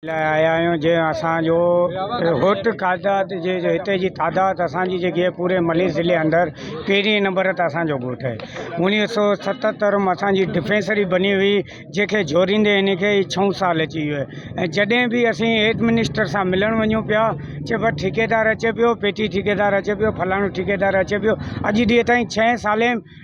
لاء آيا آهيون جنهن اسان جو هوٽ قادات جي جو هتي جي تعداد اسان جي جيڪي پوري ملي ضلعي اندر پهرين نمبر تي اسان جو ڳوٺ آهي اوڻيهه سو ستهتر ۾ اسان جي ڊفينسري بني هئي جنهن کي جوڙيندي هن کي اي ڇهون سال اچي ويو آهي ۽ جڏهن به اسين هيڊ منسٽر سان ملڻ وڃون پيا چئي بس ٺيڪيدار اچي پيو پيٽي ٺيڪيدار اچي پيو فلاڻو ٺيڪيدار اچي پيو اڄ ڏينهن تائين ڇهين سالين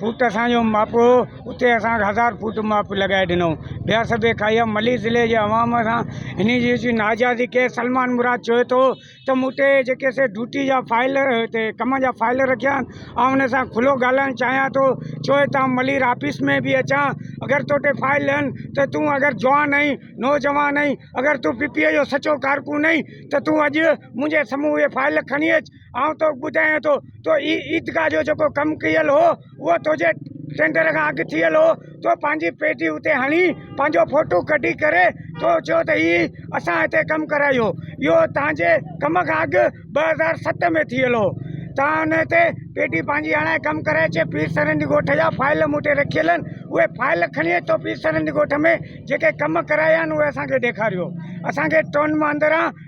فوٽ اسان جو مپ هو اتي اسان کي هزار فوٽ مپ لڳائي ڏنو بيا سڀي کائيا ملي ضلعي جي عوام سان هن جي جي ناجائزي ڪئي سلمان مراد چوي ٿو ته مون ٽي جيڪي سي ڊوٽي جا فائل هتي ڪم جا فائل رکيا آهن آئون هن سان کلو ڳالهائڻ چاهيان ٿو چوي هتان ملير آفيس ۾ به اچان اگر تو ٽي فائل لهن ته تون اگر جوان آهين نوجوان آهين اگر تون پي پي اي جو سچو ڪارڪون آهين ته تون اڄ منهنجي سمهون اهي فائل کڻي اچ آئون توکي ٻڌايان ٿو تو اي عيدگاهه جو جيڪو ڪم ڪيل هو اهو تنهنجي ٽينڊر کان اڳ ٿيل هو تو پنهنجي پيڊي اتي هڻي پنهنجو فوٽو ڪڍي ڪري تو چيو ته هي اسان هتي ڪم ڪرايو اهو تنهنجي ڪم کان اڳ ٻه هزار ست ۾ ٿيل هو تنهن ان تي پيڊي پنهنجي هڻائي ڪم ڪرائي چي پير سرهندي ڳوٺ جا فائل مون وٽ رکيل آهن اهي فائل کڻي تو پير سرهندي ڳوٺ ۾ جيڪي ڪم ڪرايا آهن اهي اسان کي ڏيکاريو اسان کي ٽون مان اندران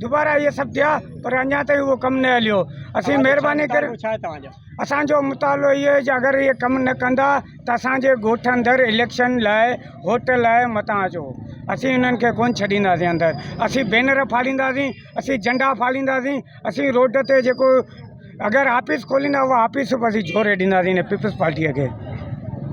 دوبارا اهي سڀ ٿيا پر اڃا تائين اهو ڪم نه هليو اسين مهرباني ڪري توهان جو ڇا توهان جو اسان جو مطالعو اهو آهي جو اگر اهي ڪم نه ڪندا ته اسان جي ڳوٺ اندر اليڪشن لاء ووٽ لاء متان اچو اسين انهن کي ڪونه ڇڏينداسين اندر اسين بينر ڦاڙينداسين اسين جنڊا ڦاڙينداسين اسين روڊ تي جيڪو اگر آفيس کوليندا اهو آفيس به اسين جهوري ڏينداسين ان پيپلز پارٽيء کي